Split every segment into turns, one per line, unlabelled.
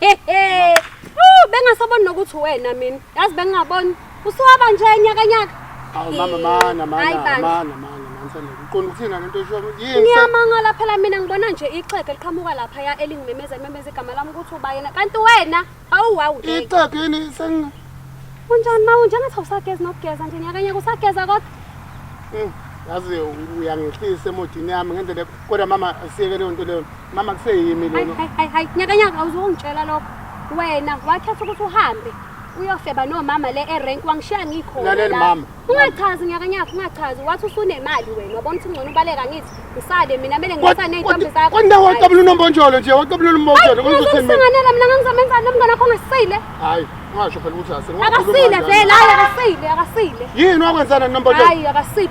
Hehe. Oh, bengasaboni nokuthi wena mina. Yazi bengingaboni. Usuwaba nje nyaka nyaka. Awu mama mana mana
Hayi bandla. mana mana mansanda uqonda ukuthina lento esho yini ngise- Ngiyamangala phela mina
ngibona nje ixhege liqhamuka lapha ya elingimemeza limemeza igama lami ukuthi ubayena. Kanti wena awu wawu. ngeke. ixhege yini
sengi Unjani ma
unje ngathi awusageza nokugeza nje nyaka nyaka usageza kodwa. Mm,
yazi uyangehlisa emodini yami ngendlela kodwa mama asiyeke leyo nto leyo mama kuseyimi Hayi, lona hayi, hayi, hayi, nyakanyaka
awuzongitshela lokho wena wakhetha ukuthi uhambe uyofeba nomama le erenk wangishiya ngikhona Lalela, la. mama.
ungachazi nyakanyaka
ungachazi wathi usunemali wena wabona ukuthi ngcono ubaleka ngithi ngisale mina mele ngisa ney'ntombi zakho kwanda Hayi. waqabula unombonjolo
nje waqabula Hayi, unombonjolo kuze uthini uzokusinganela mina ngangizomenzani
nomngane wakho ongasile hayi ungasho
phela ukuthi asini akasile vele
hayi akasile akasile yini wakwenzana
nombonjolo hayi akasile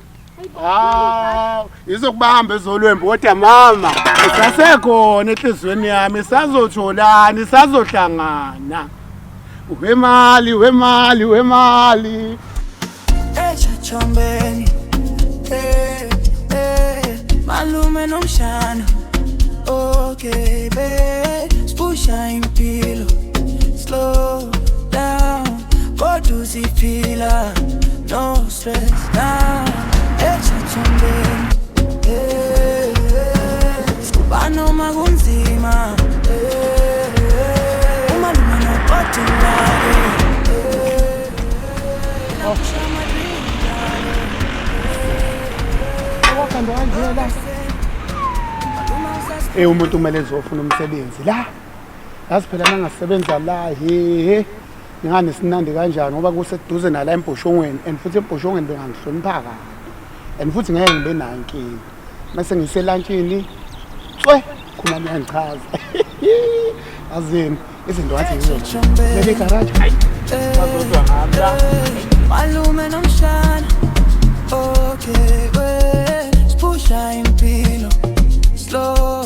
hawu izokubamba ezolwembu kodwa mama isasekhona enhliziyweni yami isazotholani isazohlangana wemali wemali wemali echachombeni
eh eh malume nomshana okay be spusha impilo slow down kodwa uziphila no stress na echathombeni eh, sikuba noma kunzima eh, uma noma nobhadi lake wahambe
kanjena la Eh umuntu kumele ezofuna umsebenzi la. Yazi phela nangasebenza la he. Ngani sinandi kanjani ngoba kuseduze nala embhoshongweni and futhi embhoshongweni bengangihlonipha kabi and futhi ngeke ngibe nayo inkinga mase ngiselantshini tswe khona niyangichaza azini izinto ngathi ngizobele garaji malume
nomshana okay wena sipusha impilo slow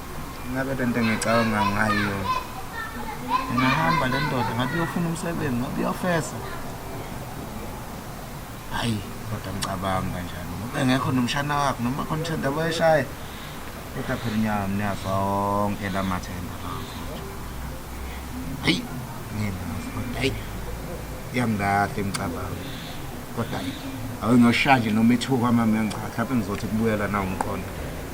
ngabe le nto engicabanga ngayo ingahamba le ndoda ngabe uyofuna umsebenzi ngabe uyofesa hayi kodwa ngicabanga kanjani ngoba engekho nomshana wakho noma khona ithenda bayishaya kodwa phela inyama niyafa onke la mathemba hayi nginazi kodwa hayi yangilahla imicabango kodwa awunoshanje noma ithuka kwamamenca mhlawumbe ngizothi kubuyela na umqondo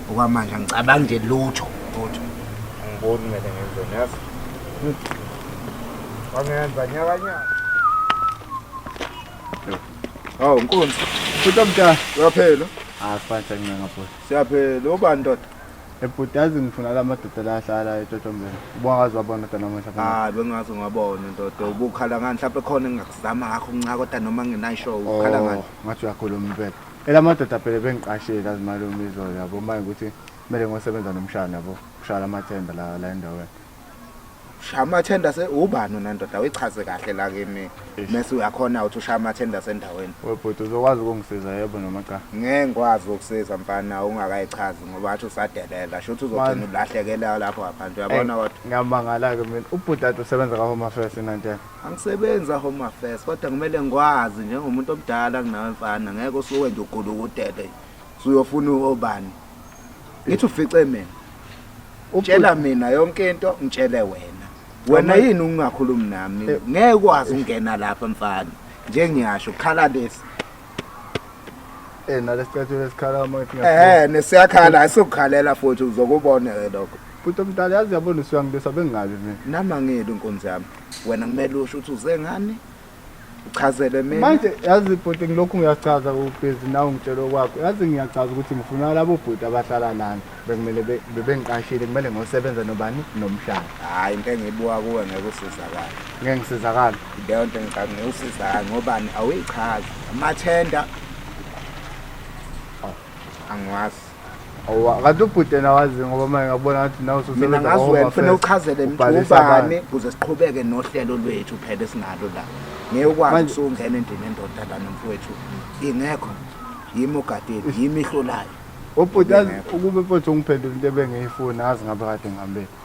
okwamanje angicabangi nje lutho lutho angiboni kumele ngenzeni yazi wangenza nyakanyaka hawu nkunzi futhi
omdala uyaphela
hayi fanisa ngincenga
futhi siyaphela
ubani ndoda
ebhuti yazi ngifuna la madoda la ahlala etotombeni ubongazi wabona kodwa namuhla hayi bengazi ngabona
ndoda ubukhala ngani mhlawumbe khona engingakuzama ngakho nca kodwa noma ngenayi show ukhala oh, ngani ngathi uyakhuluma impela
ela madoda phela bengiqashile azimalume izolo yabo manje ukuthi kumele ngosebenza nomshana yabo kushaya amathenda la la endaweni shaya
amathenda se ubani wena ndoda uyichaze kahle la kimi Eish. mese uyakhona ukuthi ushaya amathenda sendaweni webhuti uzokwazi
ukungisiza yebo noma cha ngeke ngikwazi ukusiza
mfana ungakayichazi ngoba athi usadelela shuthi uzogcina Man. ulahlekela lapho ngaphandle uyabona Ey, kodwa ngiyamangala-ke mina
ubhuti ade usebenza ka-home affairs inantela angisebenzi ahome
affairs kodwa kumele ngikwazi njengomuntu omdala kunawe mfana ngeke usuke nje ugulukudele suyofuna obani ngithi ufice mina utshela mina yonke into ngitshele wena wena yini ungakhulumi nami eh. ngeke ukwazi ukungena lapha mfana njengiyasho khala lesi eh
nalesicathulo lesikhala uma eh nesiyakhala
asokukhalela futhi uzokubona ke lokho futhi omdala yazi
yabona usuyangibesa bengabi mina nami angiyeli inkonzo
yami wena kumele usho ukuthi uze ngani Uchazele mina. Manje yazi bhuti
ngilokhu ngiyachaza ubhizi nawe ngitshela okwakho. Yazi ngiyachaza ukuthi ngifuna labo bhuti abahlala lana. Bekumele be- bebengiqashile kumele ngosebenza nobani nomhlaba. Hayi into engiyibuka
kuwe ngeke usizakala. Ngeke ngisizakala.
Leyo nto ngicabanga
ngeke usizakala ngobani awuyichazi. Amathenda. Aw, Angiwazi. Awa,
kanti ubhuti yena wazi ngoba manje ngabona ngathi nawe ususebenza mina ngazi wena kufanele
uchazele mthubane ukuze siqhubeke nohlelo lwethu phela esinalo la ngeke ukwazi usungena endini endoda la nomfowethu ingekho yimi ogadeni yimi ihlolayo ubhuti
ukube mfowethu ungiphendula into ebengiyifuna azi ngabe kade ngihambile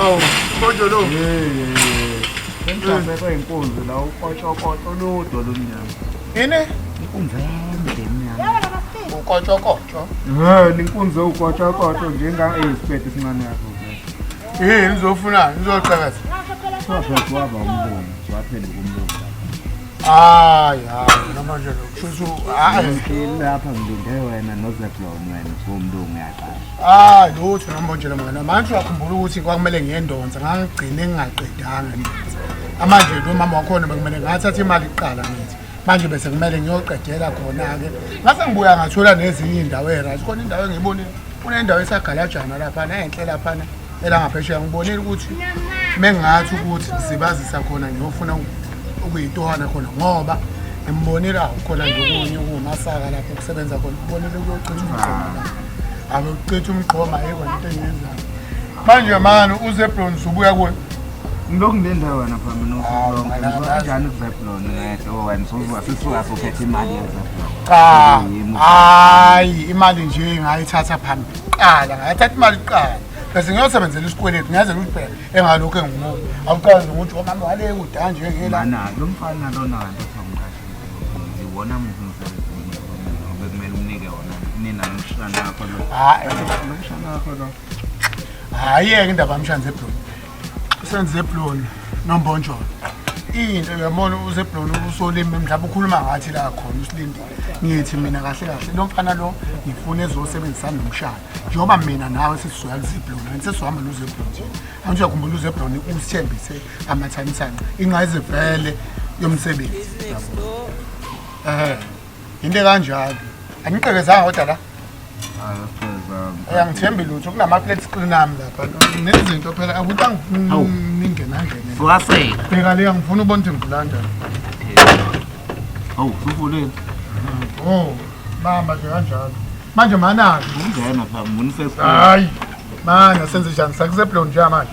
Awu, konje lo. Sengihlazekwe
inkunzi la ukotshokotsho ludo lomnyama. Yini?
Inkunzi
ende emnyama.
Ukotshokotsho.
Eh, inkunzi
ukotshokotsho njenga eyisiphethe sincane yakho. Yini
ngizofuna ngizocakaza. Swaphela
waba umbono, swaphela umbono. Hayi hayi
namanje lo. Kusho hayi. Lapha
ngilinde wena noZeblon wena kumlungu yaqala. Ah lutho
ngambonjela mngane manje uyakhumbula ukuthi kwakumele ngiyendonsa ngangigcine ngingaqedanga ngithi amanje lo mama wakhona bekumele ngathatha imali kuqala ngithi manje bese kumele ngiyoqedela khona-ke ngase ngibuya ngathola nezinye iy'ndawo eyi-right khona indawo engiyibonile kunendawo esagalajana laphana enhle laphana elangaphesheya ngibonile ukuthi mengathi ukuthi sibazisa khona ngiyofuna ukuyitohana khona ngoba ngimbonile awu khona nje okunye ukuwumasaka lapho kusebenza khona kubonile kuyogcina umqondo lapho Akuqitha umqhoma yebo into engiyenzayo. Manje mani uZebron usubuya kuwe. Ngilokhu ngendawo
wena phama nokuhlonga. Kanjani uZebron ngedwa wena sozuka sisuka sophethe imali yeZebron. Cha.
Hayi imali nje ngayithatha phambili. Qala ngayithatha imali qala. bese ngiyosebenzela isikweletu ngiyazela ukuthi phela engalokhu engumuntu awucazi ukuthi omama wale kudanje ngela lo mfana
lona kanti Iwona muntu umsebenzi bekumele umnike wona. Nina nomshana wakho lo. Hayi, nomshana wakho
lo. Hayi yeke indaba yamshana zebloni. Senze zebloni nombonjolo. into yabona useblona usolimi mhlawumbe ukhuluma ngathi la khona usilindile ngithi mina kahle kahle lo mfana lo ngifuna ezosebenzisana nomshana njengoba mina nawe sesizoya kuzeblona sesizohamba nozeblona nje angisho yakhumbula uzeblona usithembise amathanithana ingqayizivele yomsebenzi ehe into kanjalo aniqekezanga kodwa la uyangithembi lutho kunama-plate screen ami lapha nezinto phela akuthi anginingenangene
bheka le angifuni
ubona ukuthi ngibulanda hawu
suvuleni o oh,
bamba nje kanjalo manje manaki
hayi
mana senze njani sakuseblon nje manje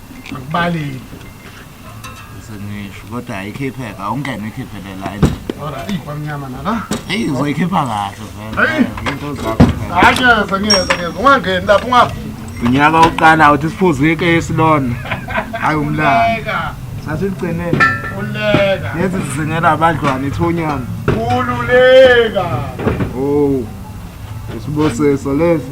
Akubaleki. Sengisho
kodwa
ayikhipheka awungene ikhiphele la endlini. Ora
ikwamnyama nala. Hey uzoyikhipha
kahle vele. Hey. Into zakho. Hayi sengiyeza sengiyeza
ungangeni lapho ungafi. Unyaka oqala
uthi siphuze ikesi lona. Hayi umlaka. Sasigcineni. Uleka.
Lezi sizingela
abadlwana ithonyana. Ululeka.
Oh.
Isibusiso lesi.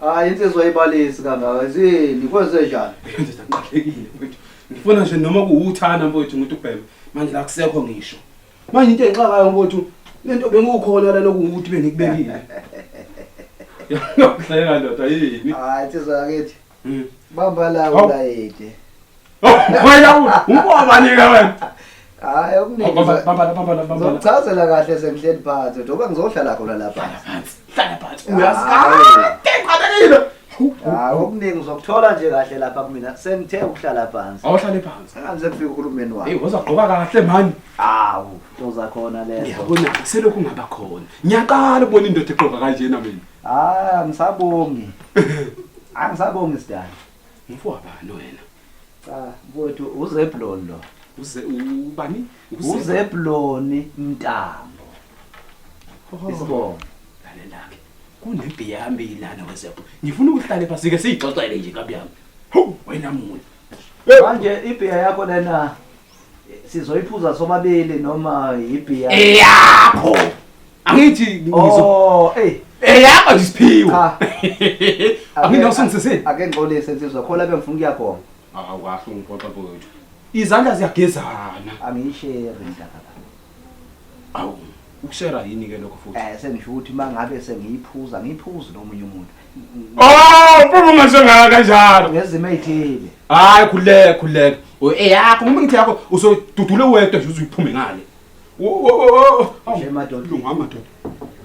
Hayi insizwa ibalisi kangaka zini kwenze njani? Ndoda ngiqalekile
mfowethu. Ngifuna nje noma kuwuthana mfowethu ngithi ubhema. Manje la kusekho ngisho. Manje into engixakayo mfowethu lento bengukhona lana ukuthi bengikubekile. Yahleka ndoda yini? Hayi insizwa yakithi.
Hmm. Bamba la Hawu. ulayede.
Wena ubobani ke wena? Hayi okuningi.
Bamba bamba bamba
bamba. Ngizochazela kahle
sengihleli phansi. Njengoba ngizohlala khona lapha. Hlala phansi. Hlala phansi.
Uyazi kade ngiqabekile. Hayi
okuningi uzokuthola nje kahle lapha kumina. Sengithe ukuhlala phansi. Awuhlale phansi. Angize
kufika uhulumeni
wami. Hey, uzogqoka kahle
mani. Awu, toza
khona lezo. Ngiyabona selokhu ngaba
khona. Ngiyaqala ukubona indoda eqoka kanjena mina. Hayi, angisabongi.
Angisabongi sidala. Ngifowabani
wena? Cha, mfowethu
uZebulon lo. Uze ubani?
UZebulon
Mntambo. Oh. Isibongo. Lalela-ke.
Kunempi yami ilana weZebulon. Ngifuna ukuhlale phansi ke siyixoxele nje kabi yami. Hawu, wena muntu. Manje
ibhiya yakho lena sizoyiphuza sobabili noma yibhiya eyakho
angithi ngizo oh hey eyakho isiphiwo aphinde usungisisini ake ngixolise
nsizwa khona bengifuna ukuya khona awukahle ungiphoxa
mfowethu izandla ziyagezana angiyishere
ndaba
awu ukushera yini ke lokho futhi eh sengisho ukuthi mangabe
sengiyiphuza ngiyiphuza nomunye umuntu oh
mfumo masengaka kanjalo ngezimo ezithile
hayi khuleka
khuleka eyakho uma ngithi yakho usodudule wedwa nje uziphume ngale
nje madoda lunga madoda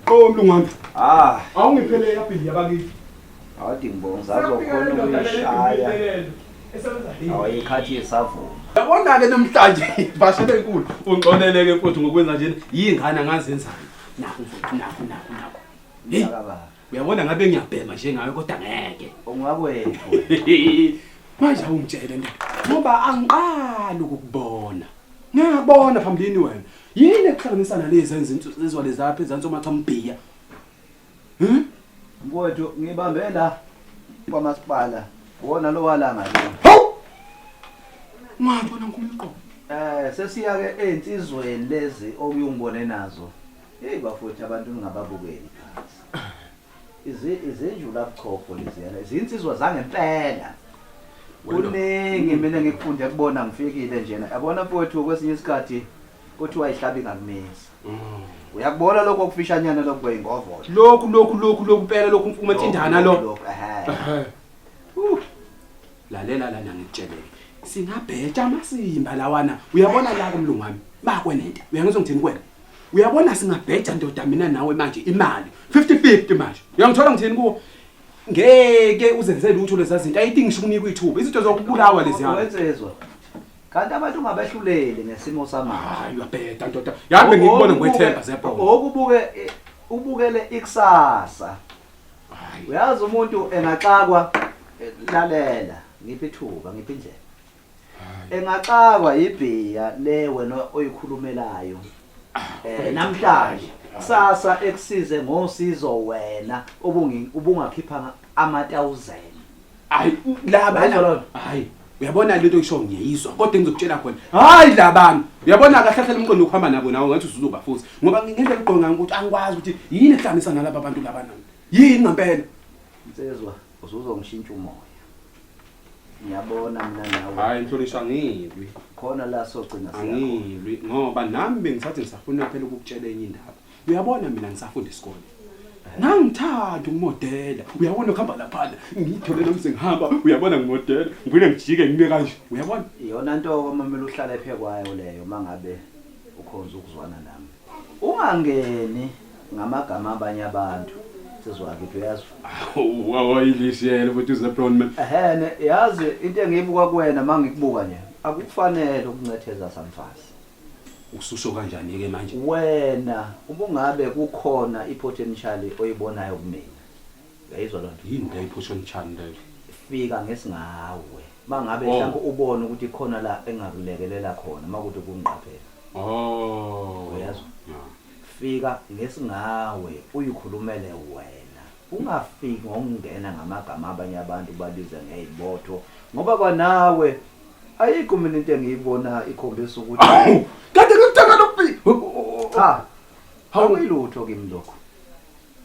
qo mlungwana ah awungiphele yaphi yabakithi Awadi ngibonga
uzazi okhona ukuyishaya. Awayikhathi yesavuma. Yabona-ke
namhlanje bashe benkulu ungixoleleke mfowethu ngokwenza njena yingane angazenzani nakho mfowethu nakho nakho nakho Hey, uyabona ngabe ngiyabhema njengawe kodwa ngeke
ungakwethu
manje awungitshele nto ngoba angiqali ukukubona ngiyabona phambilini wena yini ekuhlanganisana lezi enzinto ezwale zapha ezantsi omachamubhiya Hmm?
Mfowethu ngibambe la kwamasipala. Wona lo walanga lo. Hawu!
Ungabona nkulqo. Eh sesiya
ke einsizweni lezi okuyongibone nazo. Hey bafowethu abantu ningababukeli phansi. Izi izinjula buchopho leziyana. Izinsizwa zangempela. Kuningi mina ngikufunde kubona ngifikile njena. Yabona mfowethu kwesinye isikhathi Kuthiwa ayihlabi ngakumisa. Mm. Uyakubona lokho okufishanyana lokho kweyingovola. Lokhu lokhu lokhu lokhu
impela lokhu umfumo ethindana lo. Lokho ehe. Uh. Lalela lana ngikutsheleke. Singabheja amasimba lawana. Uyabona la kumlungu wami. Bakwe nento. Uyangizwa ngithini kwena? Uyabona singabheja ndoda mina nawe manje imali. 50-50 manje. Uyangithola ngithini kuwo? Ngeke uzenze lutho lezazinto. Ayithi ngisho ukunika ithuba. Izinto zokubulawa lezi hamba. Wenzezwa.
Kanti abantu ungabehluleli ngesimo samanje. Hayi uyabheda ndoda.
Yazi bengikubona ngwethemba zebhola. Ngokubuke ubukele
ikusasa. Hayi. Uyazi umuntu engaxakwa eh, lalela ngiphi ithuba ngiphi indlela. Engaxakwa ibhiya le wena oyikhulumelayo. Ah, eh namhlanje kusasa ekusize ngosizo wena ubungi ubungakhipha ama 1000. hayi
laba Uyayizwa lona? hayi uyabona lento isho ngiyayizwa kodwa engizokutshela khona hayi labami uyabona kahlahlela umqondo ukuhamba nabo nawo ngathi usuzoba futhi ngoba ngendlela ugqoke ngayo ukuthi angikwazi ukuthi yini ehlanganisa nalaba bantu laba nami yini ngempela Nsizwa
usuzongishintsha umoya. Ngiyabona mina nawe. hayi mhlonishwa angilwi
Khona la
sogcina siyakho. angilwi ngoba
nami bengithathi ngisafuna phela ukukutshela enye indaba uyabona mina ngisafunda isikole ngangithanda ukumodela uyabona ukuhamba laphana ngiyithole nami sengihamba uyabona ngimodela ngivele ngijike ngime kanje uyabona iyona nto kwamamela
uhlala ephe kwayo leyo uma ngabe ukhonza ukuzwana nami ungangeni ngamagama abanye abantu sizwakithi uyazi wawayilisiyele
futhi uzeblon man ehene yazi
into engiyibuka kuwena uma ngikubuka nje akukufanele ukuncetheza samfazi ususho
kanjani ke manje wena
ubungabe kukhona ipotential oyibonayo kumina uyayizwa lonto yini le ipotential
leyo fika
ngesingawe mangabe oh. mhlawumbe ubona ukuthi khona la engakulekelela khona makuthi kungiqaphela oh uyazwa fika ngesingawe uyikhulumele wena Ungafiki ngokungena ngamagama abanye abantu ubabize ngey'botho ngoba kwanawe ayikho mina into engiyibona ikhombisa ukuthi Awu, kanti ngikuthanda
lokubi. cha
awuyilutho kimi lokho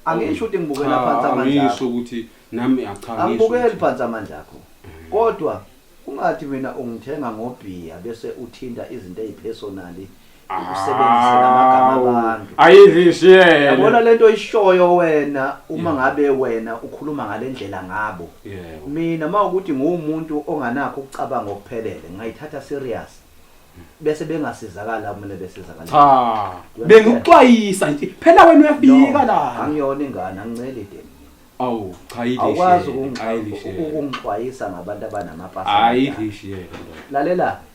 angisho ukuthi ngibukela phansi amandla akho. Angisho ukuthi
nami acha ngisho. angibukeli ukuthi- phansi amandla
akho kodwa ungathi mina ungithenga ngobhiya bese uthinta izinto ezipersonally usebenzise lamagama abantu ayizishiyele
yabona lento
oyishoyo wena uma ngabe wena ukhuluma ngalendlela ngabo yebo mina mawukuthi ngumuntu onganakho ukucabanga okuphelele ngayithatha serious bese bengasizakala kumele besizakala cha
bengikuxwayisa nje phela wena uyafika la angiyona ingane anginceli
dem awu cha
yile awukwazi
ukungixwayisa ngabantu abanamapasi ayizishiyele
lalela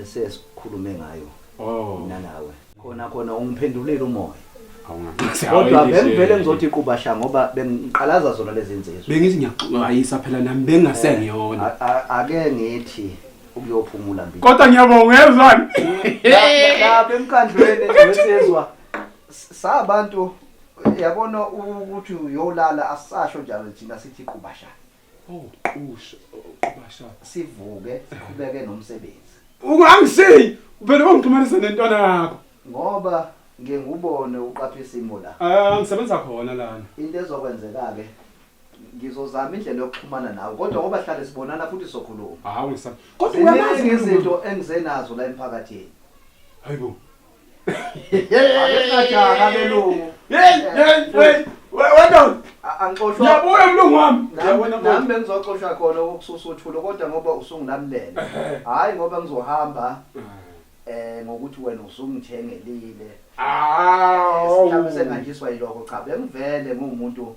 esesikhulume ngayo oh. mina nawe khona khona ungiphendulile umoya kodwa bengivele ngizothi iqubasha ngoba bengiqalaza zona lezi nsizwa bengithi ngiyaxwayisa
phela nami bengasengiyona eh, ake
ngithi ukuyophumula mbili kodwa ngiyabonga ngezwani
lapha
emkhandlweni wesizwa sabantu yabona ukuthi uyolala asasho njalo thina sithi qubashana Oh, qusha,
qubasha. Sivuke
siqhubeke nomsebenzi. Ungangisiyi,
uvele ungixhumanisa nentwana yakho. Ngoba
ngiye ngubone uqapha isimo la. Ah, ngisebenza khona lana.
Into ezokwenzeka
ke ngizozama indlela yokuxhumana nawe kodwa ngoba hlale sibonana futhi sokhuluma. Hawu ngisam. Kodwa
uyamazi Ziningi izinto engizenazo
la emphakathini. Hayibo. Akesajaka belungu. Hey, hey, hey.
Wena angixoshwa.
Ngiyabuya mlungu
wami. Nami bengizoxoshwa
khona ukususa uthulo kodwa ngoba usungilalele. Hayi ngoba ngizohamba eh ngokuthi wena usungithengelile. Awu. Sihlabise nganjiswa yiloko cha bengivele ngumuntu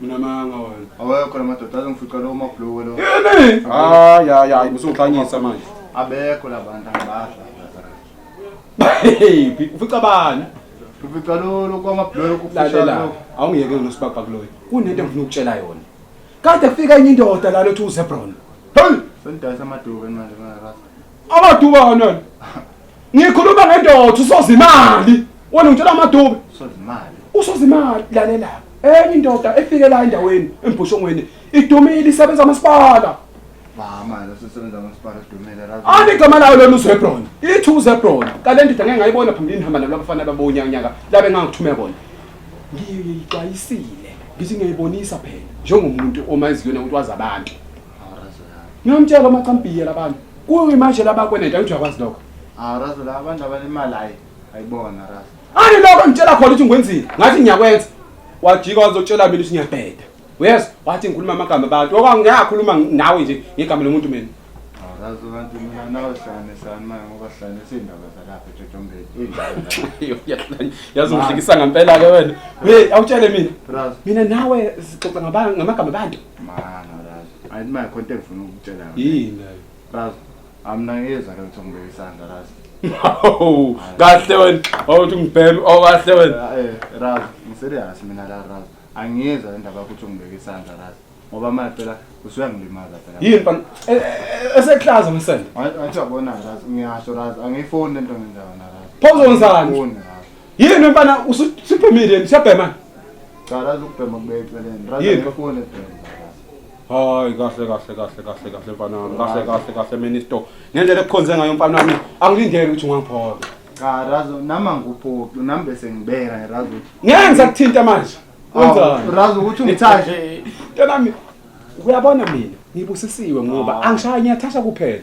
mina
manga wena awekho la madoda
azongifica lo mabhluku lo yini hayi
hayi hayi usuxhanyisa manje abekho la bantu
angibadla hey
ufica bani ufica lo
lo kwamabhluku kufica awungiyeke nosibabha
kuloyo kunento engifuna ukutshela yona kade kufika enye indoda la lothi uzebron hey sendayisa amaduku
manje ngakaza Amaduba
kanjani? Ngikhuluma ngendoda usozimali. Wena ngitshela amaduba. Usozimali.
Usozimali
lalela. Enye indoda efike la endaweni embhushongweni idumile isebenza amasipala. Mama,
losesebenza amasipala idumile razi. Ani igama layo lona
uZebron. Ithi uZebron. Kale ndoda ngeke ngayibona phambilini hamba nabo abafana babonya nyaka labe ngangithume bona. Ngiyixwayisile. Ngithi ngiyibonisa phela njengomuntu omaziyo ukuthi wazi abantu. ngiyomtshela amacambiye labantu kuyo imanje labakweneta ukuthi uyakwazi lokho arazo la abantu
abanemali hayi ayibona razo ani
lokho ngitshela khona ukuthi ngwenzile ngathi ngiyakwenza wajika wazotshela mina ukuthi ngiyabheda uyezwa wathi ngikhuluma amagama abantu okangiyakhuluma nawe nje ngegama lomuntu mina arazo kanti
mina nawe sane sane manje ngoba sane sindaba zalapha ejojombeni yazi ungihlekisa ngempela
ke wena hey awutshele mina mina nawe sixoxa ngamagama abantu Mama
lazi. Ayi manje konke ngifuna ukutshela yona. Yini nayo?
Lazi.
Amna ngiyeza ke ukuthi ngibeke isandla lazi. Hawu,
kahle wena. Awuthi ngibhemi, awu kahle wena. Eh, Raz,
ngiserious mina la Raz. Angiyeza indaba ukuthi ngibeke isandla Raz. Ngoba manje phela usuyangilimaza phela. Yini mfana? E-
e- Eseklaza umsende. Athi yabona
Raz, ngiyasho Raz, angiyifuni lento ngenza yona Raz. Pho uzonzani? Angiyifuni,
Raz. Yini mfana usuphumile yini siyabhema? Cha razi
ukubhema kubeka eceleni. Razi ngifone ebhema. Hayi
kahle kahle kahle kahle kahle mfana wami. Kahle kahle kahle minister. Ngendlela ekukhonze ngayo mfana wami angilindele ukuthi ungangiphola. Cha razi
nama nguphoqi nami bese ngibeka razi. Ngeke ngizakuthinta manje.
Wenzani? Razi ukuthi ungithaje.
Ntanami
uyabona mina ngibusisiwe ngoba angishaya ngiyathasha kuphela.